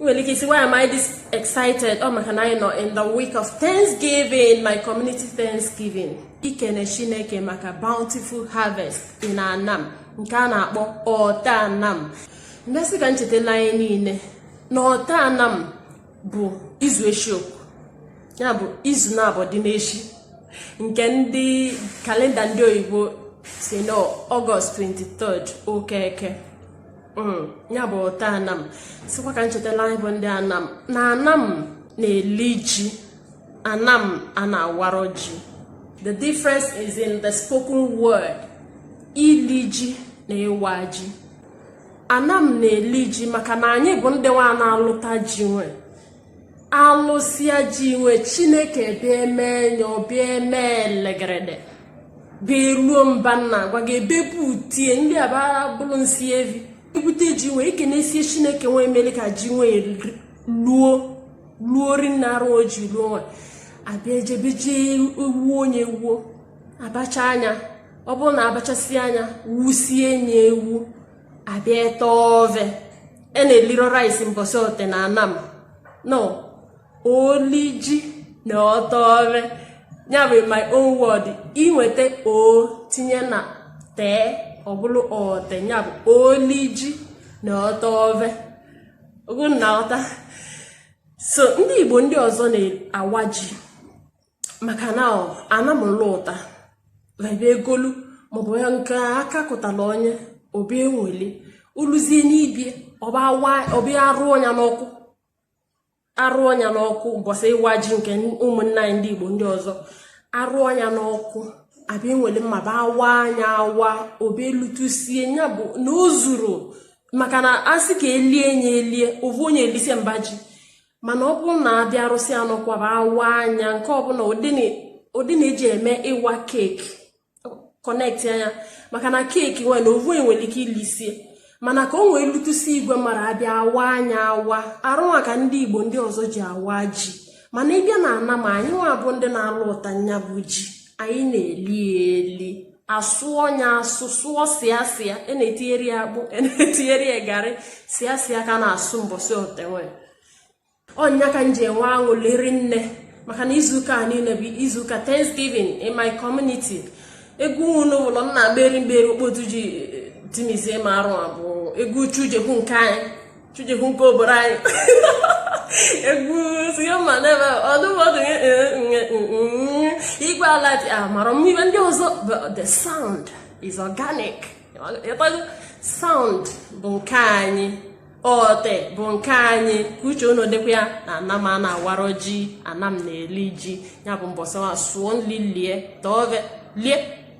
ị nwere ike ịsị why am I this excited ọ maka na anyị nọ in the week of Thanksgiving my community Thanksgiving ikene Chineke maka bountiful harvest in Anam nke a na-akpọ ọta anam m bịa sị ka m chetela anyị niile na ọta anam bụ izu echi ukwu ya bụ izu naabọ dị n'echi nke ndị kalenda ndị oyibo sị na ọgọst 23 ụka eke hmm, ya bụ ọta anam sịkwa ka m chetala anyị bụ ndị anam na anam na-eli ji anam a na-awarọ ji the difference is in the spoken word ili ji na ịwa ji anam na-eli ji maka na anyị bụ ndị nwa na-alụta ji nwe alụsịa ji nwe chineke bịa eme nya ọ bịa eme elegerede bịa luo mba m na-agwa gị ebepu tie ndị aba bụrụ isi evi i bute ji nwe ekenesie chineke nwe emele ka ji nwe luo luo rinne arụ o ji luo nwa a bịa ejebe je ewuo nya ewuo a bacha nya ọ bụrụ na a bachasịa nya wusie nya ewu a bịa ete ove e na-eliro rice mbọsị ote na anam no oli ji na ọte ove ya bụ my own word i nwete o tinye na tee ọ bụlụ ọte ya bụ oli ji na ọte ove ogo na ọta so ndị igbo ndị ọzọ na-awa ji maka na anam lụta a bịa egolu maọbụ ya nke aka kụtala onye ọ bịa enweli uluzie n'ibie ọ bịa arụọ nya n'ọkụ arụọ nya n'ọkụ mbọsị ịwa ji nke ụmụnna anyị ndị igbo ndị ọzọ arụọ nya n'ọkụ a bịa enwere mma bịa awaa nya awa ọ bịa elutusie ya bụ na o zuru maka na a sị ka elie nya elie ovu onye elisie mba ji mana ọ bụrụ na a bịa arụsịa n'ọkụ a bịa awaa nya nke ọbụla ụdị na-eji eme ịwa keeki connectia nya maka na keeki nwe na ovu onye nwere ike ilisie mana ka o nwee lutusi igwe mmarụ a bịa awaa nya awa arụ nwa ka ndị igbo ndị ọzọ ji awa ji mana ị bịa na anam anyị nwa bụ ndị na-alụta nya bụ ji anyị na-eli eli asụọ nya asụ sụọ sịa sịa e na-etinyerọ ya akpụ e na-etinyerọ ya garị sịa sịa ka a na-asụ mbọsị ote nwe ọ nya ka m ji enwe aṅụlị rinne maka na izuụka a niile bụ izuụka thanksgiving in my community egwu unu ụlọ nna meri mgberi okpotu ji eh, timizie ma arụ abụọ egwu uchu jekwu nke anyị chujekwu nke obodo anyị egwu siyoma n'ebe ọdụmọdụ igwe ala dị amara m ibe ndị ọzọ the sound is organic sound bụ nke anyị ọte bụ nke anyị ka uche unu dịkwa ya na anam a na-awara ji anam na-eli ji ya bụ mbọsị wa sụọ nli lie tọọ lie